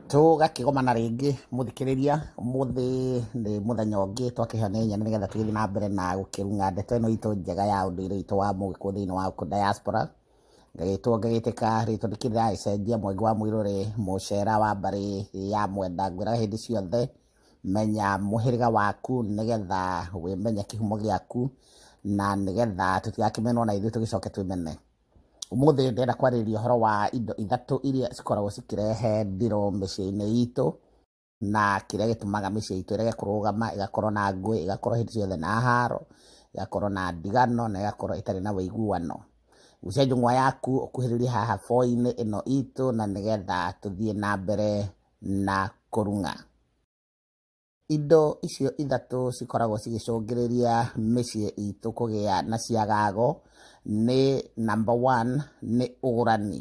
Tũgakĩgomana rĩngĩ mũthikĩrĩria, ũmũthĩ nĩ mũthenya ũngĩ twakĩhanaine nĩgetha tũgĩthiĩ na mbere na gũkĩruga ndeto ĩno itũ njega ya ũndũire witũ wa mũgĩkũyũ thĩinĩ wa gũkũ diaspora. Ngagĩtwo ngagĩtĩka rĩtwa nĩ kĩndĩragĩcenjia Mwangi wa Mũirũrĩ mũcera wa mbarĩ ya Mwenda. Ngwĩraga hĩndĩ ciothe menya mũhĩrĩga waku nĩgetha wĩmenye kĩhumo gĩaku na nĩgetha tũtigakĩmenwo na ithuĩ tũgĩcoke twĩmene. Ũmũthĩ ndĩrenda kwarĩrĩria ũhoro wa indo ithatũ iria cikoragwo cikĩrehe ndirũ mĩciĩ-inĩ itũ, na kĩrĩa gĩtũmaga mĩciĩ itũ ĩrege kũrũgama, ĩgakorwo na ngũĩ, ĩgakorwo hĩndĩ ciothe na haro, ĩgakorwo na ndigano, na ĩgakorwo ĩtarĩ na ũiguano. Gucia njũng'wa yaku ũkuhĩrĩrie haha boo-inĩ ĩno itũ na nĩgetha tũthiĩ na mbere na kũrung'a. Indo icio ithatũ cikoragwo cigĩcũngĩrĩria mĩciĩ itũ kũgĩa na ciagago nĩ number one nĩ ũgũrani.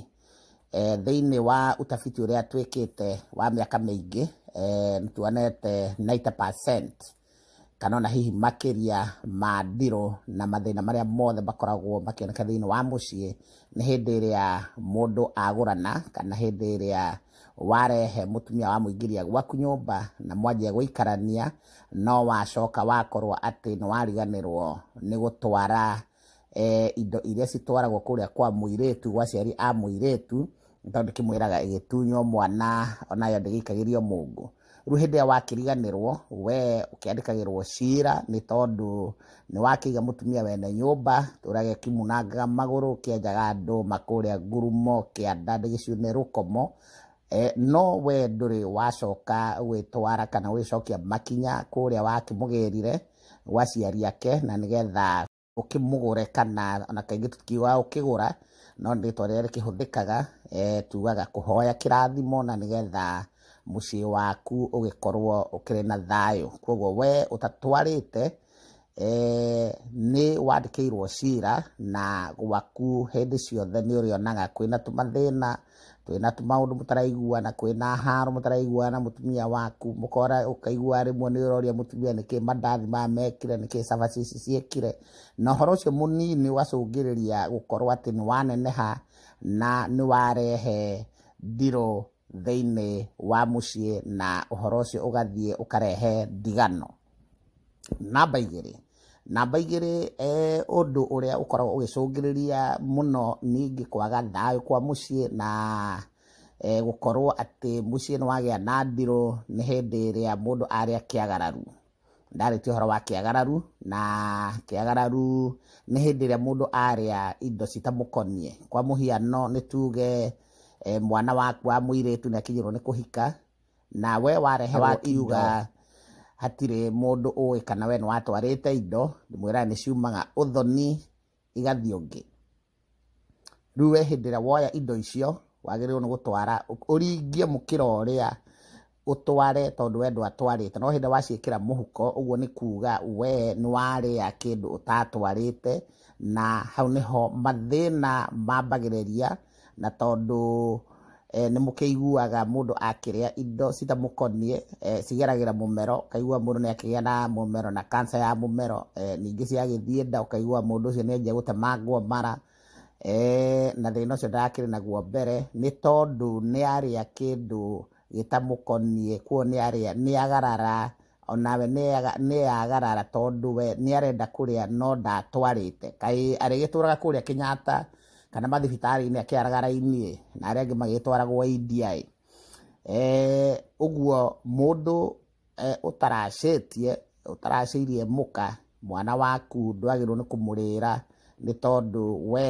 Thĩinĩ wa ũtabiti ũrĩa twĩkĩte wa mĩaka mĩingĩ, nĩ tuonete ninety percent kana ona hihi makĩria ma ndirũ na mathĩna marĩa mothe makoragwo makĩoneka thĩinĩ wa mũciĩ, nĩ hĩndĩ ĩrĩa mũndũ agũrana kana hĩndĩ ĩrĩa warehe mũtumia wa mũingĩria gwaku nyũmba na mwanjia gũikarania no wacoka wakorwo atĩ nĩ wariganĩrwo nĩ gũtwara e, indo iria citwaragwo kũrĩa kwa mũirĩtu gwa ciari a mũirĩtu tondũ kĩmwĩraga ĩgĩtunywo mwana onayo ndĩgĩikagĩrio mũngũ Rĩu hĩndĩ ĩrĩa wakĩriganĩrwo, we ũkĩandĩkagĩrwo cira nĩ tondũ nĩ wakĩiga mũtumia wene nyũmba, ũrĩa kimunangaga magũrũ, kĩenjaga andũ makũrĩa ngurumo, kĩanda ndĩgĩciũ nĩ rũkomo, e, no we ndũrĩ wacoka gwĩtwara kana gwĩcokia makinya kũrĩa wakĩmũgĩrire gwa ciari ake na nĩgetha ũkĩmũgũre kana ona kaingĩ tũtiugaga ũkĩgũra, no nĩ rĩtwa rĩrĩa rĩkĩhũthĩkaga, tugaga kũhoya kĩrathimo na nĩgetha mũciĩ waku ũgĩkorwo ũkĩrĩ na thayũ. Koguo we ũtatwarĩte, nĩ wandĩkĩirwo cira na gwaku hĩndĩ ciothe nĩ ũrĩonaga kwĩna tũmathĩna. kwĩna maũndũ mũtaraiguana kwĩna haro mũtaraiguana na mũtumia waku mũkora ũkaigua rĩmwe nĩ ũroria mũtumia nĩkĩ mandathi maya mekire nĩkĩ cabaci ici ciekire na ũhoro ũcio mũnini ũgacũngĩrĩria gũkorwo atĩ nĩ waneneha na nĩ warehe ndirũ thĩinĩ wa mũciĩ na ũhoro ũcio ũgathiĩ ũkarehe ndigano. Namba igĩrĩ, namba igĩrĩ ũndũ ũrĩa ũkoragwo ũgĩcũngĩrĩria mũno nĩ niĩ kwaga thayũ kwa mũciĩ na gũkorwo atĩ mũciĩ nĩ wagĩa na ndirũ nĩ hĩndĩ ĩrĩa mũndũ arĩa kĩagararu. Ndarĩkia ũhoro wa kĩagararu, na kĩagararu nĩ hĩndĩ ĩrĩa mũndũ arĩa indo citamũkoniĩ. Kwa mũhiano nĩ tuge mwana waku wa mũirĩtu nĩ akinyĩrwo nĩ kũhika, nawe wareherwo iuga hatirĩ mũndũ ũĩ kana we nĩwatwarĩte indo ndĩmwĩraga nĩ ciumaga ũthoni igathiĩ ũngĩ rĩu we hĩndĩ ĩrĩa woya indo icio wagĩrĩirwo nĩ gũtwara ũringie mũkĩra ũrĩa ũtware tondũ we ndwatwarĩte no hĩndĩ waciĩkĩra mũhuko ũguo nĩ kuga we nĩwarĩa kĩndũ ũtatwarĩte na hau nĩho mathĩna mambagĩrĩria na tondũ eh, nĩ mũkĩiguaga mũndũ akĩrĩa indo citamũkoniĩ eh, cigeragĩra mũmero ũkaigua mũndũ nĩ akĩgĩa na mũmero na kansa ya mũmero eh, ningĩ ciagĩthiĩ nda ũkaigua mũndũ ũcio nĩ anjia gũtemangwo mara eh, na thĩna ũcio ndakĩrĩ naguo mbere nĩ tondũ nĩ arĩa kĩndũ gĩtamũkoniĩ kuo nĩ arĩa nĩ agarara O nawe nĩeagarara tondũ we nĩarenda kũrĩa no ndatwarĩte. Kaĩ arĩgĩtũraga kũrĩa Kenyatta kana mathibitarĩ-inĩ akĩaraga raini-ĩ, na arĩa angĩ magĩtwaragwo India-ĩ. Ũguo mũndũ ũtaracĩtie, ũtaracĩirie mũka, mwana waku ndwagĩrĩirwo nĩ kũmũrĩra nĩ tondũ we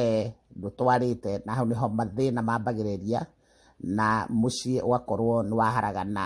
ndũtwarĩte na hau nĩho mathĩna mambagĩrĩria na mũciĩ ũgakorwo nĩwaharagana.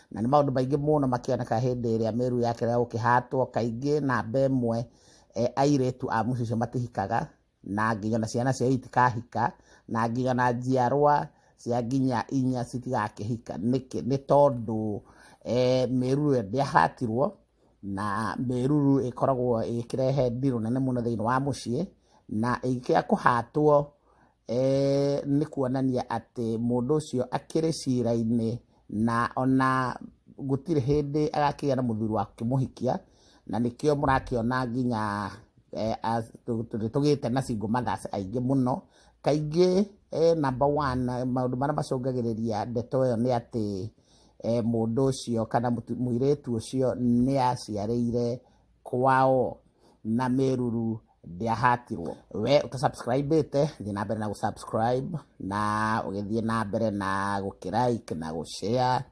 na nĩ maũndũ maingĩ mũno makĩoneka hĩndĩ ĩrĩa mĩruru yake ya gũkĩhatwo kaingĩ namba ĩmwe e, airĩtu a mũciĩ ũcio matihikaga na nginya na ciana ciao itikahika na nginya na njiarwa cia nginya inya citigakĩhika nĩkĩ nĩ tondũ e, mĩruru ndĩahatirwo na mĩruru ĩkoragwo ĩkĩrehe ndirũ nene mũno thĩinĩ wa mũciĩ na ĩgĩkĩa kũhatwo nĩ kuonania atĩ mũndũ ũcio akĩrĩ cira-inĩ na ona gũtirĩ hĩndĩ agakĩgĩa na mũthuri wa kũmũhikia, na nĩkĩo mũrakĩona nginya tũgĩte na single mothers aingĩ mũno. Kaingĩ namba one maũndũ marĩa macũngagĩrĩria ndeto ĩyo nĩ atĩ mũndũ ũcio kana mũirĩtu ũcio nĩ aciarĩire. kwao na meruru ndĩahatirwo we ũtasubscribĩte thiĩ na mbere na gũsubscribe na ũgĩthiĩ na mbere na gũkĩrike na gũshare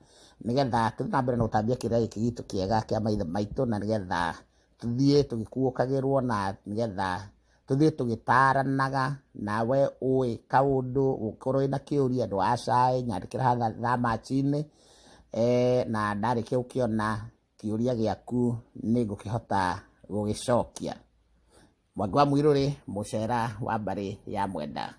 nĩgetha tũthiĩ na mbere na gũtambia kĩrĩa gĩkĩ gitũ kĩega kĩa maithe maitũ na nĩgetha tũthiĩ tũgĩkuũkagĩrwo na nĩgetha tũthiĩ tũgĩtaranaga na we ũĩ kaũndũ ũkorwo wĩna kĩũria ndwacai nyandĩkĩra haha thamachinĩ eh, na ndarĩkia gũkĩona Kĩũria gĩaku nĩ ngũkĩhota gũgĩcokia. Mwangi wa Mũirũrĩ, Mũcera wa mbarĩ ya Mwenda.